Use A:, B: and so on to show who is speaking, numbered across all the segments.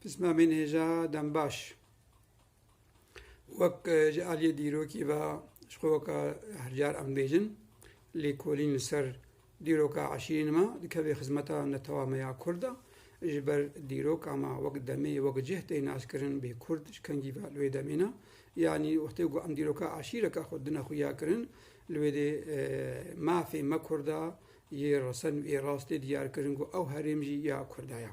A: Pismamên hêja dembaş wek ji aliyê dîrokî ve ji xwe weka her car em bêjin lêkolîn li ser dîroka eşîrîn me dikevê xizmeta netewameya Kurd de ji ber dîroka me wek demê wek cih tê naskirin bê Kurd ji kengî ve li wê demê ne yanî wextê ku em dîroka eşîreka xwe dina xuya kirin li wê dê mafê me Kurda Yê resen û yê rastê diyar kirin ku ew herêm jî ya Kurda ya.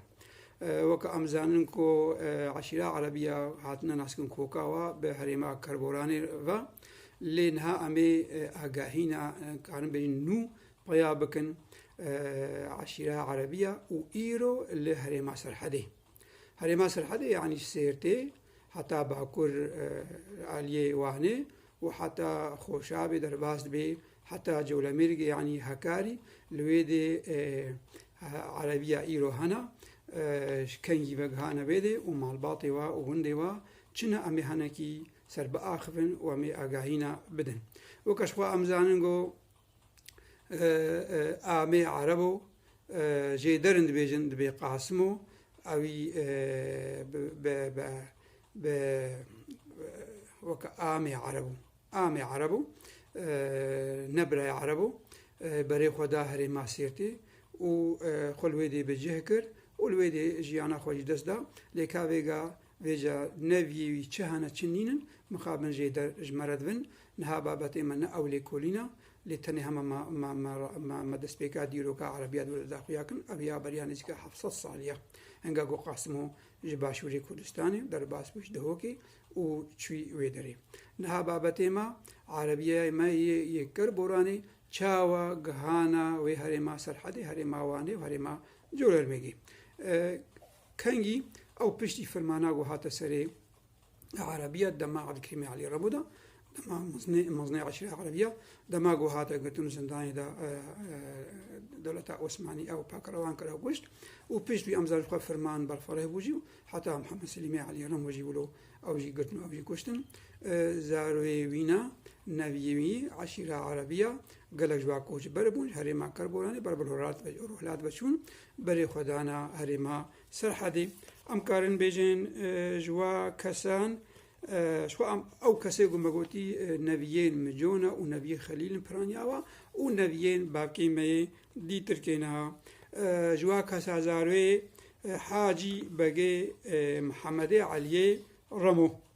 A: Weke em zanin ku eşîra Erebî ya hatine naskin koka wa bi herêma Kerboranê ve. Lê niha em ê agahîna karin bêjin nû peya bikin eşîra Erebî ya û îro li herêma Serhedê. Herêma Sirhedê yanî ji Sêrtê heta bakur li aliyê Wanê û heta Xoşabê derbas dibe heta Colemêrgê yanî Hekarî li wê dê erebiya îro hene ji kengî vegihane vê dê û malbatê we û gundê we çine em ê henekî serbiaxivin û em ê agahîna bidin. Weke ji xwe em zanin ku Amê Ereb o, ji derin dibêjin dibê Qasim o, ewî bi weke Amê Ereb o. Amê Ereb o, ne birayê Ereb o, berê xwe da herê Masîrtê û xwe li wê dê bi cih kir û li wê dê jiyana xwe ji dest da, lê ka vêga Vêca ne vîyê wî çi hene çi nîn in, mixabin jê der ji me re dibin. Niha babetê me ne ew lêkolîn e, lê tenê hema me me destpêka dîroka erebîya dûr de daxuya kin, ev ya beriya nêzîka heft sed salî ye. Hinga ku Qasimo ji başûrê Kurdistanê derbas bû ji Dihokê û çûy wê derê. Niha babetê me, erebîyayê me yê yê ker boranê çawa gihana wê herêma Serhedê, herêma Wanê û herêma Colermêgê. Kengî ew piştî firmana ku hate serê Erebîya dema Ebdulkerîmê Elî Rebo de, dema Muzneyê Eşîrê Erebîya, dema ku hate girtin zindanê de dewleta Osmanî ew pakirewan kir ew kuşt û pişt wî em zar ji xwe firman berfireh bû jî û heta Mihemed Selîmê Elî Remo jî wilo ew jî girtin û ew jî kuştin. Zarê wî ne, neviyê wî, Eşîra Erebîya gelek ji wan koçber bûn, ji herêma Kerboranê ber bi Ruhlat ve çûn, Berêxwedana herêma Serhedê, em karin bêjin ji we kesan, ji xwe em ew kesê ku me gotî neviyên min co ne û neviyê Xelîl in piraniya we û neviyên bavkên me yê dî tirkê ne. Ji we kesa zarê Hacî Begê Mihemedê Eliyê Remo.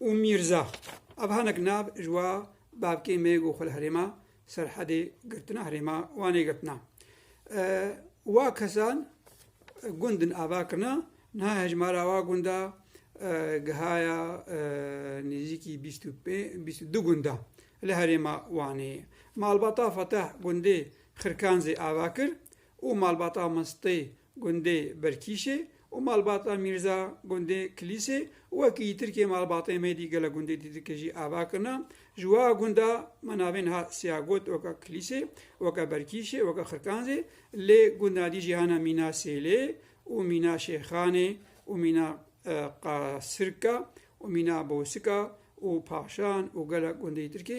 A: û Mîrza. Ev hinek nav ji wa bavkê me ku xwe li herêma Serhedê girtina, herêma Wanê girtina. Wa kesan gund din ava kirina, niha hejmara wa gunda gihaya nêzîkî bîst û pênc, bîst û du gunda li herêma Wanê ye. Malbata Fetah gundê Xirkanzê ava kir û malbata Mistê gundê Berkîşê û malbata Mîrza gundê Kilîsê û wekî yî Tirkê malbatên me dî gelek gundê dî dike jî ava kirina. Ji wa gunda me navên ha siya got weke Kilîsê, weke Berkîşê, weke Xirkanzê lê gunda dî jî hene Mîna Sêlê û Mîna Şêxanê û Mîna Qasirka û Mîna Bosika û Paşan û gelek gundê yî Tirkê.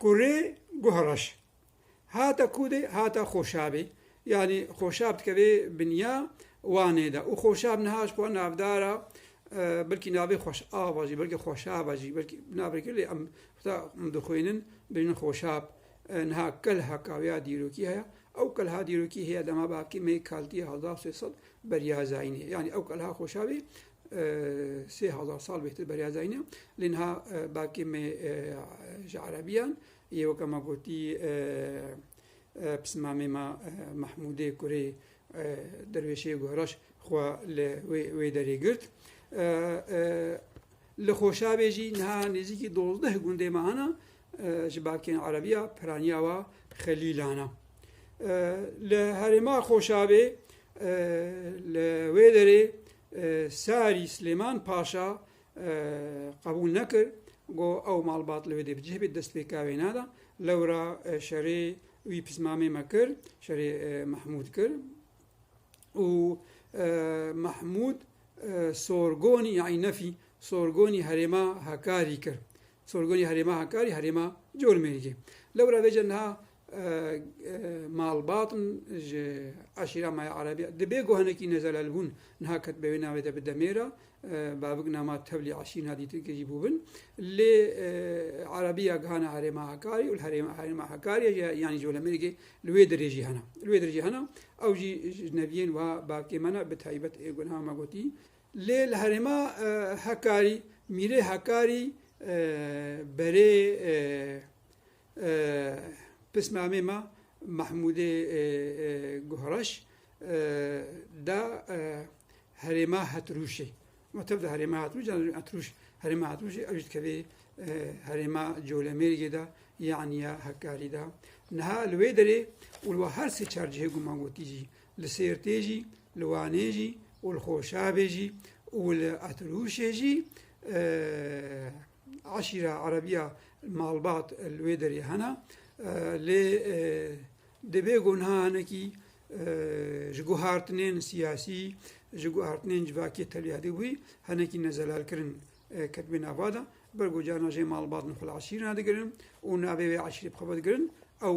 A: Kurê guh reş. Hate Kûdê hate Xoşabê. Yanî Xoşab dikeve binya Wanê de û Xoşab niha ji xwe navdar a belkî navê Xweşava jî belkî Xoşava jî belkî navê kir lê em heta em dixwînin bêjin Xoşab. Niha kelha ka ya dîrokî heye. Ew kelha dîrokî heye dema bavkê me yê kaltî ya hezar sê sed beriya zayînê. Yanî ew kelha Xoşabê Sê hezar sal bêhtir beriya zayne. Lê niha belkê me ji Erebiyan yê weke ma gotî pismamê ma Mehmûdê kurê derwêşê guheraş xwe li wê derê girt. Li Xoşavê jî niha nêzîkî dozdeh gundê me hene Ji bakên Erebiya piraniya wa Xelîlan e. Li herêma Xoşabê li wê derê Sarî Silêman Paşa qebûl nekir got ew malbat li wê dê bicih bê dest pêka wê nada. Lewra şerê wî pismamê me kir, şerê Mehmûd kir û Mehmûd sorgonî yanî nefî sorgonî herêma Hekarî kir. Sorgunê Herêma Hakkari, Herêma Cormêrgê. Lewra vê jin niha malbat in ji eşîra Maya Erebî di bê ku hinekî nezelal bûn niha ketbe wê navê de bi demê re bavik nama tevlî eşîna dîtin kirî bû bin lê Erebîya gihana Herêma Hakkari û Herêma Hakkari yanî Colemêrgê li wê dirêjî hena. Li wê dirêjî hena ew jî ji neviyên wiha bavkê me ne bi taybet ê ku niha me gotî Lê li herêma Hekarî Mîrê Hekarî berê pismamê me Mehmûdê Guhreş da herêma Hetrûşê. Ma tev da herêma Hetrûş can Hetrûş herêma Hetrûşê ew jî dikevê herêma Colemêrgê da yaniya Hekarî da. Niha li wê derê û li wan her sê çar cihê ku man gotî jî Li Sêrtê jî, li Wanê jî û li Xoşabê jî û li Etirûşê jî eşîra erebîya malbat li wê derê hene lê divê ku niha hinekî ji guhartinên siyasî, ji guhartinên civakî tevliya dibûyî hinekî nezelalkirin ketibû nava de. Ber ku carna jê malbat li xwe li eşîrê re digirin û navê wê eşîrê bi xwe ve digirin ew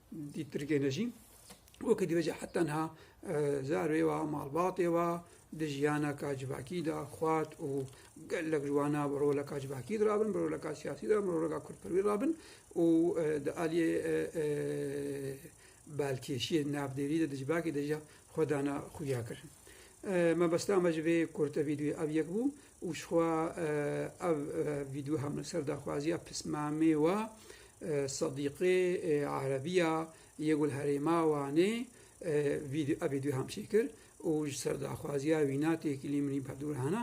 A: Di Tirkiyê de jî wekî dibêje heta niha zarê wa malbatê wa di jiyana ka civakî de xwat û gelek ji wana bi roleka civakî de rabin, bi roleka siyasî de, bi roleka kurdperwî rabin û di aliyê balkêşiyê navdêrî de di civakê de jî xwe dana xuyakirin. Mebesta me ji vê kurte vîdyoyê ev yek bû. û jixwe ev vîdyo hem li ser daxwaziya pismamê wa Sedîqê Erebî ya yê ku li herêma Wanê ev vîdyo hem çêkir û ji ser daxwaziya wîna tê kilî milî berdûrhana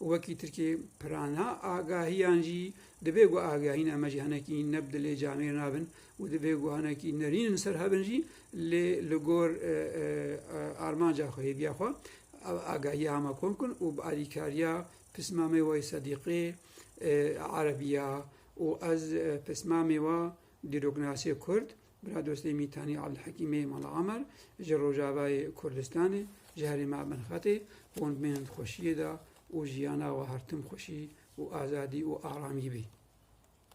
A: û wekî tirkê pirana agahiyan jî dibê ku agahîna me jî henekî ne bi dilê camêr nabin û divê guhanekî nerîn li ser hebin jî lê li gor armanca xwe, hêviya xwe agahiya hema kom bikin û bi alîkariya pismamê we yê sedîqê, erebiya û ez pismamê we dîroknasiyê kurd, Biradostê Mîtanî Abdulhekîmê Mala Amer ji Rojavayê Kurdistanê ji herê me bin xetê hûn bên di xweşiyê de û jiyana we her tim xweşî û azadî û aramî bê.